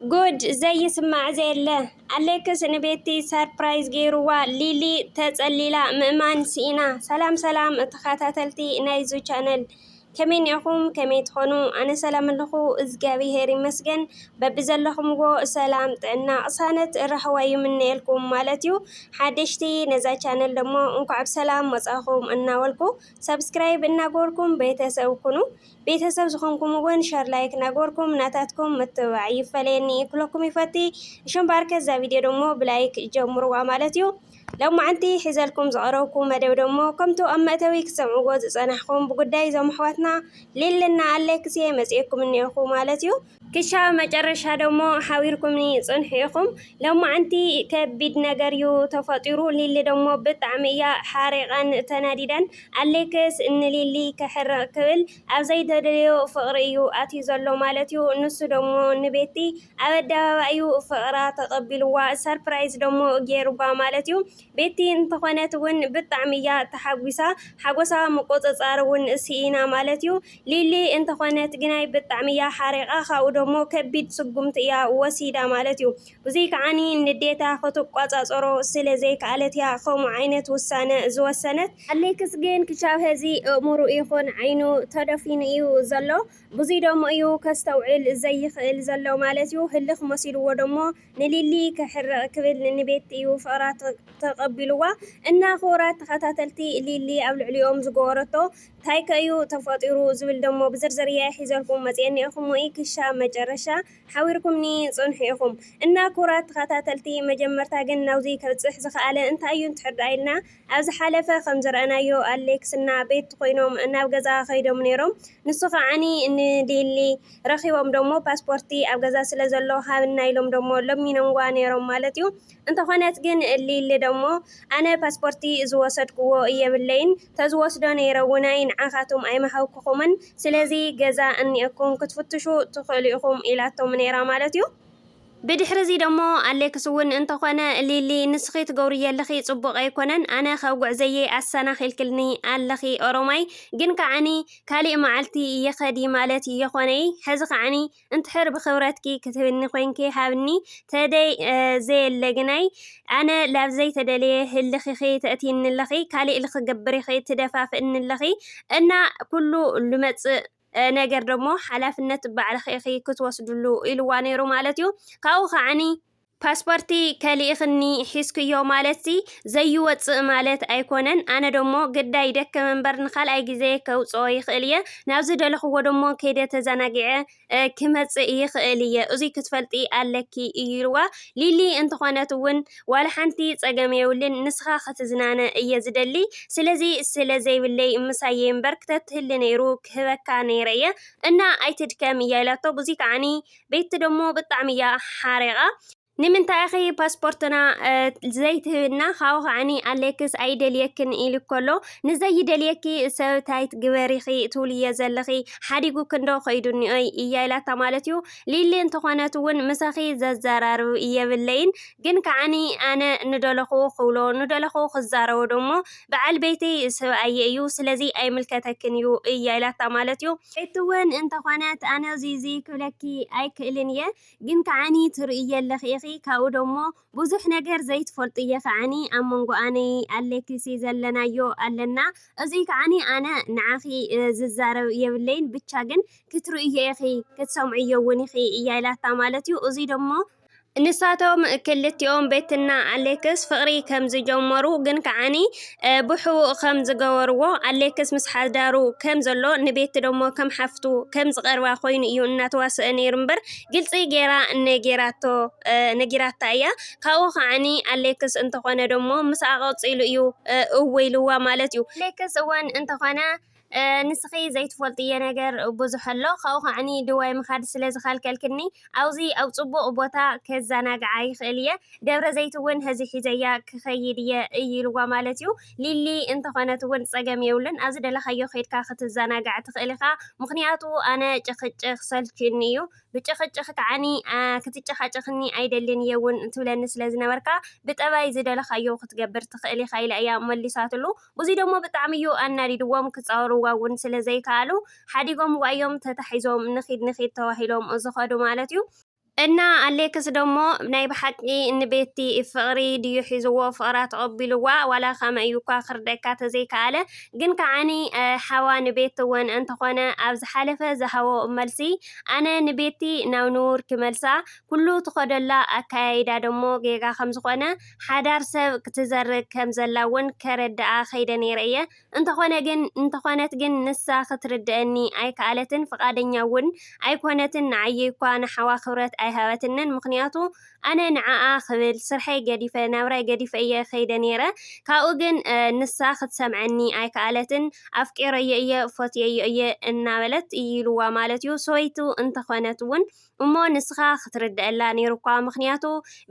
ጉድ ዘይስማዕ ዘየለ ኣሌክስ ንቤቲ ሰርፕራይዝ ገይርዋ ሊሊ ተጸሊላ ምእማን ስኢና። ሰላም ሰላም ተኸታተልቲ ናይዙ ቻነል ከመይ ኒኹም ከመይ ትኾኑ ኣነ ሰላም ኣለኹ እግዚኣብሄር ይመስገን በብዘለኹምዎ ሰላም ጥዕና ቅሳነት ራህዋ ይምነየልኩም ማለት እዩ ሓደሽቲ ነዛ ቻነል ደሞ እንኳዕ ብሰላም መጻኹም እናበልኩ ሰብስክራይብ እናገበርኩም ቤተሰብ ኩኑ ቤተሰብ ዝኾንኩም እውን ሸር ላይክ ናገበርኩም ናታትኩም ምትብባዕ ይፈለየኒ ክለኩም ይፈቲ እሾም ባርከ እዛ ቪድዮ ደሞ ብላይክ ጀምርዋ ማለት እዩ ሎማዓንቲ ሒዘልኩም ዝቐረብኩ መደብ ደሞ ከምቱ ኣብ መእተዊ ክትሰምዕዎ ዝፀናሕኹም ብጉዳይ እዞም ኣሕዋትና ሌልና ኣሌክሴ መፅኤኩም እኒኦኹ ማለት እዩ ክሻብ መጨረሻ ደሞ ሓቢርኩምኒ ጽንሑ ኢኩም ለማዓንቲ ከቢድ ነገር ዩ ተፈጢሩ ሊሊ ደሞ ብጣዕሚ እያ ሓሪቃን ተናዲዳን ኣሌክስ ንሊሊ ከሕርቅ ክብል ኣብ ዘይተደለዮ ፍቅሪ እዩ ኣትዩ ዘሎ ማለት ዩ ንሱ ደሞ ንቤቲ ኣብ ኣደባባይ ዩ ፍቅራ ተቀቢልዋ ሰርፕራይዝ ደሞ ጌሩባ ማለት ዩ ቤቲ እንተኾነት ውን ብጣዕሚ እያ ተሓጒሳ ሓጎሳ ምቁጽጻር ውን ስኢና ማለት እዩ ሊሊ እንተኾነት ግናይ ብጣዕሚ እያ ሓሪቓ ካብኡ ደሞ ከቢድ ስጉምቲ እያ ወሲዳ ማለት እዩ ብዙይ ከዓኒ ንዴታ ክትቆጻጸሮ ስለ ዘይከኣለት እያ ከምኡ ዓይነት ውሳነ ዝወሰነት ኣሌክስ ግን ክሻብ ሀዚ እእምርኡ ይኹን ዓይኑ ተደፊኑ እዩ ዘሎ ብዙይ ደሞ እዩ ከስተውዕል ዘይኽእል ዘሎ ማለት እዩ ህልኽ መሲልዎ ደሞ ንሊሊ ከሕርቅ ክብል ንንቤት እዩ ፍቅራ ተቀቢልዋ እና ክቡራት ተከታተልቲ ሊሊ ኣብ ልዕሊኦም ዝገበረቶ ታይ ከ እዩ ተፈጢሩ ዝብል ደሞ ብዝርዝር እየ ሒዘልኩም መፅየ እኒኤኩሞ እይ ክሻብ መጨረሻ ሓዊርኩምኒ ፅንሑ ኢኩም እና ክቡራት ተከታተልቲ መጀመርታ ግን ናብዙይ ከብፅሕ ዝከኣለ እንታይ እዩ እንትሕር ድኣ ኢልና ኣብ ዝሓለፈ ከም ዝረኣናዮ ኣሌክስ እና ቤት ኮይኖም ናብ ገዛ ከይዶም ነይሮም ንሱ ከዓኒ ን ሊሊ ረኪቦም ደሞ ፓስፖርቲ ኣብ ገዛ ስለ ዘሎ ሃብና ኢሎም ደሞ ለሚኖምዋ ነይሮም ማለት እዩ እንተኮነት ግን ሊሊ ደሞ ኣነ ፓስፖርቲ ዝወሰድኩዎ የብለይን ተዝወስዶ ነይረ ውናይ ንዓካቱም ኣይምሃብኩኩምን ስለዚ ገዛ እኒኤኩም ክትፍትሹ ትክእሉ ኢኩም ኢላቶም ነይራ ማለት እዩ። ብድሕሪ'ዚ ደሞ ኣሌክስ እውን እንተኾነ ሊሊ ንስኺ ትገብርዮ ኣለኺ ጽቡቕ ኣይኮነን ኣነ ካብ ጉዕዘየይ ኣሰናኺልክልኒ ኣለኺ ኦሮማይ ግን ከዓኒ ካሊእ መዓልቲ ይኸዲ ማለት እየኾነይ ሕዚ ከዓኒ እንትሕር ብኽብረትኪ ክትህብኒ ኮይንኪ ሃብኒ ተደይ ዘየለ ግናይ ኣነ ላብ ዘይተደለየ ህልኺኺ ተእትይኒ ኣለኺ ካሊእ ልክገብር ኢኺ ትደፋፍእኒ ኣለኺ እና ኩሉ ልመጽእ ነገር ደሞ ሓላፍነት ባዕልኺ ኢኺ ክትወስድሉ ኢልዋ ነይሩ ማለት እዩ። ካብኡ ከዓኒ ፓስፖርቲ ከሊእኽኒ ሒዝክዮ ማለትሲ ዘይወጽእ ማለት ኣይኮነን፣ ኣነ ደሞ ግዳ ይደክም እምበር ንካልኣይ ግዜ ከውጽኦ ይኽእል እየ፣ ናብ ዝደለኽዎ ደሞ ከይደ ተዘናጊዐ ክመጽእ ይኽእል እየ፣ እዙይ ክትፈልጢ ኣለኪ እዩ ኢልዋ። ሊሊ እንተኾነት እውን ዋላ ሓንቲ ጸገም የብሉን ንስኻ ክትዝናነ እየ ዝደሊ ስለዚ ስለ ዘይብለይ ምሳየይ እምበር ክተትህሊ ነይሩ ክህበካ ነይረ እየ እና ኣይትድከም እያ ኢላቶ ብዙይ ከዓኒ ቤቲ ደሞ ብጣዕሚ እያ ሓሪቓ ንምንታይ ኢኺ ፓስፖርትና ዘይትህብና ካብኡ ከዓኒ ኣሌክስ ኣይደልየክን ኢሉ ከሎ ንዘይደልየኪ ሰብ ታይ ትግበሪኺ ትብልዮ ዘለኺ ሓዲጉክንዶ ከይዱ እኒኦይ እያ ኢላታ ማለት እዩ ሊሊ እንተኾነት ውን ምሳኺ ዘዛራርብ የብለይን ግን ከዓኒ ኣነ ንደለኹ ክብሎ ንደለኹ ክዛረቦ ደሞ በዓል ቤተይ ሰብኣየ እዩ ስለዚ ኣይምልከተክን እዩ እያ ኢላታ ማለት እዩ። ቤቲ ውን እንተኾነት ኣነ እዙይ እዙይ ክብለኪ ኣይክእልን እየ ግን ከዓኒ ትርእይዮ ኣለኺ ኢኺ ካብኡ ደሞ ብዙሕ ነገር ዘይትፈልጡ እየ ከዓኒ ኣብ መንጎ ኣነይ ኣሌክሲ ዘለናዮ ኣለና እዙይ ከዓኒ ኣነ ንዓኺ ዝዛረብ የብለይን ብቻ ግን ክትርእዮ ኢኺ ክትሰምዕዮ እውን ኢኺ እያ ኢላታ ማለት እዩ እዙይ ደሞ ንሳቶም ክልቲኦም ቤትና ኣሌክስ ፍቕሪ ከም ዝጀመሩ ግን ከዓኒ ብሕቡእ ከም ዝገበርዎ፣ ኣሌክስ ምስ ሓዳሩ ከም ዘሎ ንቤቲ ደሞ ከም ሓፍቱ ከም ዝቐርባ ኮይኑ እዩ እናተዋሰኣ ነይሩ እምበር ግልፂ ገይራ ነጊራቶ ነጊራታ እያ። ካብኡ ከዓኒ ኣሌክስ እንተኾነ ደሞ ምስኣ ቀፂሉ እዩ እው ኢልዋ ማለት እዩ። ኣሌክስ እውን እንተኾነ ንስኺ ዘይትፈልጥዮ ነገር ብዙሕ ኣሎ፣ ካብኡ ኸኣኒ ድዋይ ምኻድ ስለ ዝኸልከልክኒ፣ ኣብ'ዚ ኣብ ጽቡቕ ቦታ ከዘናግዓ ይኽእል እየ፣ ደብረ ዘይት'ውን ሕዚ ሒዘያ ክኸይድ እየ እዩ ኢልዋ ማለት እዩ። ሊሊ እንተኾነት'ውን ጸገም የብሉን፣ ኣብ ዝደለኻዮ ኬድካ ክትዘናጋዕ ትኽእል ኢኻ፣ ምኽንያቱ ኣነ ጭኽጭኽ ሰልችዩኒ እዩ፣ ብጭኽጭኽ ከኣኒ ክትጨኻጨኽኒ ኣይደልን እየ'ውን ትብለኒ ስለ ዝነበርካ፣ ብጠባይ ዝደለኻዮ ክትገብር ትኽእል ኢኻ ኢላ እያ መሊሳትሉ። እዙይ ደሞ ብጣዕሚ እዩ ኣናዲድዎም ክፃወርዋ እውን ስለ ዘይከኣሉ ሓዲጎምዋ እዮም ተታሒዞም ንኺድ ንኺድ ተባሂሎም ዝኸዱ ማለት እዩ። እና ኣሌክስ ደሞ ናይ ብሓቂ ን ቤቲ ፍቕሪ ድዩ ሒዝዎ ፍቕራ ተቐቢልዋ ዋላ ከመይ እዩ እኳ ክርደካ ተዘይከኣለ ግን ከዓ ን ሓዋ ን ቤቲ እውን እንተኾነ ኣብ ዝሓለፈ ዝሃቦ መልሲ ኣነ ን ቤቲ ናብ ንቡር ክመልሳ ኩሉ ትኸደላ ኣከያይዳ ደሞ ጌጋ ከም ዝኾነ ሓዳር ሰብ ክትዘርግ ከም ዘላ ውን ከረድኣ ከይደ ነይረ እየ። እንተኾነ ግን እንተኾነት ግን ንሳ ክትርድኣኒ ኣይከኣለትን ፍቓደኛ ውን ኣይኮነትን ንዓይ'ኳ ንሓዋ ክብረት ኣይሃበትንን ምኽንያቱ ኣነ ንዓኣ ክብል ስርሐይ ገዲፈ ናብራይ ገዲፈ እየ ከይደ ነይረ ካብኡ ግን ንሳ ክትሰምዐኒ ኣይከኣለትን ኣፍቂረዮ እየ ፈትየዮ እየ እናበለት ኢሉዋ ማለት'ዩ ሰበይቱ እንተኾነት ውን እሞ ንስኻ ክትርደኣላ ኔሩኳ ምኽንያቱ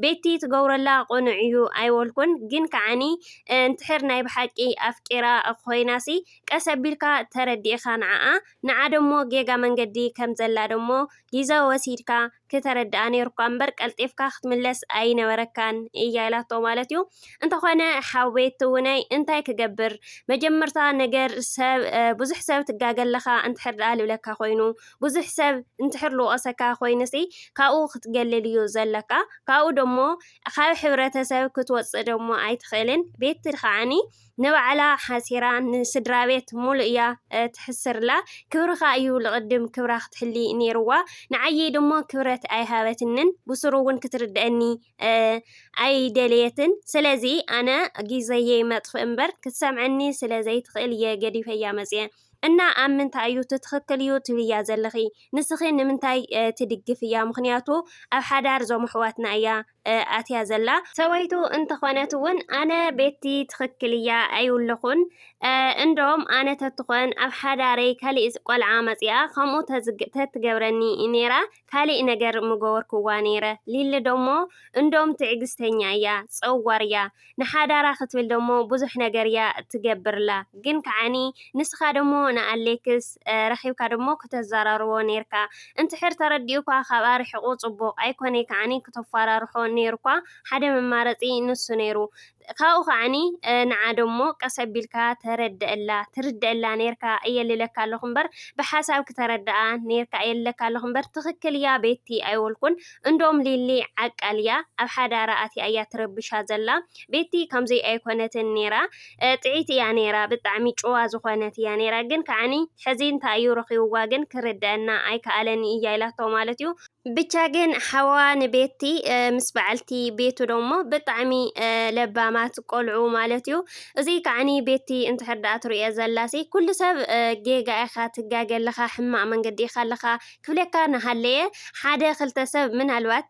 ቤቲ ትገብሮላ ቁኑዕ ኢዩ ኣይወልኩን ግን ካዓኒ እንድሕር ናይ ብሓቂ ኣፍቂራ ኾይናሲ ቀስ ኣቢልካ ተረዲኢካ ንዓኣ ንዓ ደሞ ጌጋ መንገዲ ከም ዘላ ደሞ ጊዘ ወሲድካ ክተረዳኣ ኔሩኳ እምበር ቀልጢፍካ ክትምለስ ኣይነበረካን ኢያ ኢላቶ ማለት ኢዩ እንተኾነ ሓው ቤቲ ውነይ እንታይ ክገብር መጀመርታ ነገር ሰብ ብዙሕ ሰብ ትጋገ ኣለኻ እንድሕር ዳኣ ልብለካ ኮይኑ ብዙሕ ሰብ እንድሕር ልወቐሰካ ኮይኑሲ ካብኡ ክትገልል እዩ ዘለካ ካብኡ ደሞ ካብ ሕብረተሰብ ክትወጽእ ደሞ ኣይትኽእልን ቤቲ ከዓኒ ንባዕላ ሓሲራ ንስድራቤት ሙሉእ እያ ትሕስርላ ክብርኻ እዩ ልቕድም ክብራ ክትሕሊ ኔርዋ ንዓየይ ደሞ ክብረት ኣይሃበትንን ብሱሩ ውን ክትርደኣኒ ኣይደለየትን ስለዚ ኣነ ጊዘየይ መጥፍእ እምበር ክትሰምዐኒ ስለ ዘይትኽእል እየ ገዲፈያ መጽየ። እና ኣብ ምንታይ እዩ እቲ ትክክል እዩ ትብልያ ዘለኺ ንስኺ ንምንታይ ትድግፍያ ምኽንያቱ ኣብ ሓዳር ዞም ኣሕዋትና እያ ኣትያ ዘላ ሰበይቱ እንተኾነት እውን ኣነ ቤቲ ትክክል እያ ኣይውለኹን እንዶም ኣነ ተትኾን ኣብ ሓዳረይ ካሊእ ቆልዓ መፂኣ ከምኡ ተትገብረኒ ነይራ ካሊእ ነገር ምገበርኩዋ ነይረ ሊሊ ደሞ እንዶም ትዕግስተኛ እያ ፀዋር እያ ንሓዳራ ክትብል ደሞ ብዙሕ ነገር እያ ትገብርላ ግን ከዓኒ ንስኻ ደሞ ንኣሌክስ ረኺብካ ደሞ ክተዘራርቦ ነይርካ እንትሕር ተረዲኡኳ ካብኣ ርሕቁ ፅቡቅ ኣይኮነይ ከዓኒ ክተፋራርሖ ነይሩኳ ሓደ መማረፂ ንሱ ነይሩ ካብኡ ከዓኒ ንዓ ደሞ ቀስ ኣቢልካ ተረደኣላ ትርደኣላ ኔርካ እየ ልለካ ኣለኹ እምበር ብሓሳብ ክተረደኣ ኔርካ እየ ልለካ ኣለኹ እምበር ትኽክል እያ ቤቲ ኣይወልኩን እንዶም ሊሊ ዓቃል እያ ኣብ ሓዳራ ኣትያ እያ ትረብሻ ዘላ ቤቲ ከምዙይ ኣይኮነትን ኔራ ጥዒት እያ ኔራ ብጣዕሚ ጭዋ ዝኾነት እያ ኔራ ግን ከዓኒ ሕዚ እንታይ እዩ ረኺብዋ ግን ክርደኣና ኣይከኣለን እያ ኢላቶ ማለት እዩ ብቻ ግን ሓዋ ንቤቲ ምስ በዓልቲ ቤቱ ደሞ ብጣዕሚ ለባማት ቆልዑ ማለት እዩ እዚ ከዓኒ ቤቲ እንድሕር ደኣ ትርእዮ ዘላሲ ኩሉ ሰብ ጌጋ ኢኻ ትጋገ ኣለኻ ሕማቅ መንገዲ ኢኻ ኣለኻ ክብለካ ንሃለየ ሓደ ክልተ ሰብ ምናልባት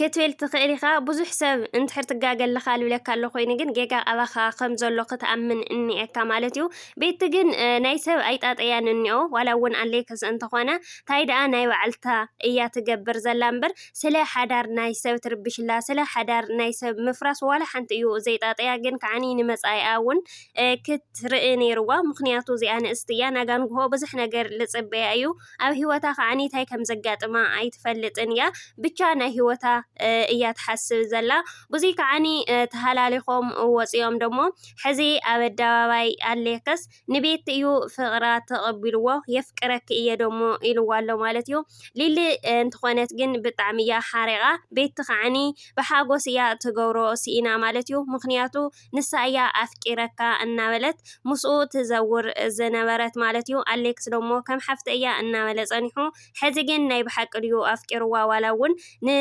ክትብል ትኽእል ኢኻ ብዙሕ ሰብ እንድሕር ትጋገ ኣለኻ ልብለካ ኣሎ ኮይኑ ግን ጌጋ ኣባኻ ከም ዘሎ ክትኣምን እኒኤካ ማለት እዩ ቤቲ ግን ናይ ሰብ ኣይጣጠያን እኒኦ ዋላ እውን ኣለይ ክስ እንተኾነ ታይ ደኣ ናይ ባዕልታ እያ ትገብር ዘላ እምበር ስለ ሓዳር ናይ ሰብ ትርብሽላ ስለ ሓዳር ናይ ሰብ ምፍራስ ዋላ ሓንቲ እዩ ዘይጣጥያ ግን ከዓኒ ንመፃኢኣ እውን ክትርኢ ነይርዋ ምክንያቱ እዚኣ ንእስቲ እያ ናጋንግሆ ብዙሕ ነገር ልፅበያ እዩ ኣብ ሂወታ ከዓኒ ታይ ከም ዘጋጥማ ኣይትፈልጥን እያ ብቻ ናይ ሂወታ እያ ትሓስብ ዘላ ብዙይ ከዓኒ ተሃላሊኮም ወፂኦም ደሞ ሕዚ ኣብ ኣደባባይ ኣሌክስ ንቤቲ እዩ ፍቕራ ተቐቢልዎ የፍቅረኪ እየ ደሞ ኢልዋ ኣሎ ማለት እዩ ሊሊ እንትኾነት ግን ብጣዕሚ እያ ሓሪቓ ቤቲ ከዓኒ ብሓጎስ እያ ትገብሮ ስኢና ማለት እዩ ምክንያቱ ንሳ እያ ኣፍቂረካ እናበለት ምስኡ ትዘውር ዝነበረት ማለት እዩ ኣሌክስ ደሞ ከም ሓፍተ እያ እናበለ ጸኒሑ ሐዚ ግን ናይ ብሓቂ ድዩ ኣፍቂርዋ ዋላ ውን ን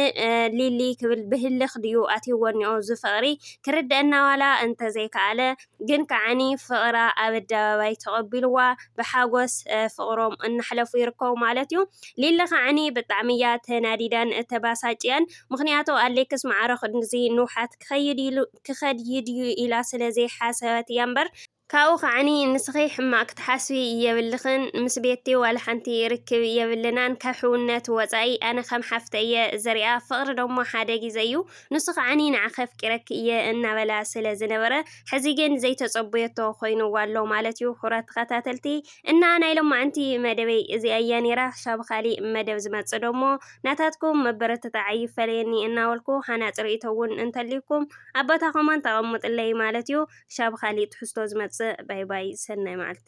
ሊሊ ክብል ብህልኽ ድዩ ኣትይዎ እኒኦ እዚ ፍቅሪ ክርደኣና ዋላ እንተዘይከኣለ ግን ከዓኒ ፍቅራ ኣብ ኣደባባይ ተቀቢልዋ ብሓጎስ ፍቅሮም እናሕለፉ ይርከቡ ማለት ዩ ሊሊ ከዓኒ ብጣዕሚ እያ ተናዲዳን ተባሳጭያን ምክንያቱ ኣሌክስ ማዕረ ክንድዚ ንውሓት ክከይድ ክከድይድዩ ኢላ ስለ ዘይሓሰበት እያ እምበር ካብኡ ከዓኒ ንስኺ ሕማቅ ክትሓስቢ የብልኽን ምስ ቤቲ ዋላ ሓንቲ ርክብ የብልናን ካብ ሕውነት ወጻኢ ኣነ ከም ሓፍተ እየ ዝሪኣ ፍቅሪ ደሞ ሓደ ጊዘ እዩ ንሱ ከዓኒ ንዓኺ ኣፍቂረኪ እየ እናበላ ስለ ዝነበረ ሕዚ ግን ዘይተጸበዮቶ ኮይንዋ ኣሎ ማለት እዩ ኩራት ተኸታተልቲ እና ናይ ሎማዕንቲ መደበይ እዚኣ እያ ኔራ ክሻብ ኻሊእ መደብ ዝመጽእ ደሞ ናታትኩም መበረተታዒ ይፈለየኒ እናበልኩ ሃናጺ ርእይቶ ውን እንተልዩኩም ኣብ ቦታ ኮመንት ኣቐሙጥለይ ማለት ዩ ክሻብ ብ ካሊእ ትሕዝቶ ዝመጽእ ባይ ባይ ሰናይ መዓልቲ።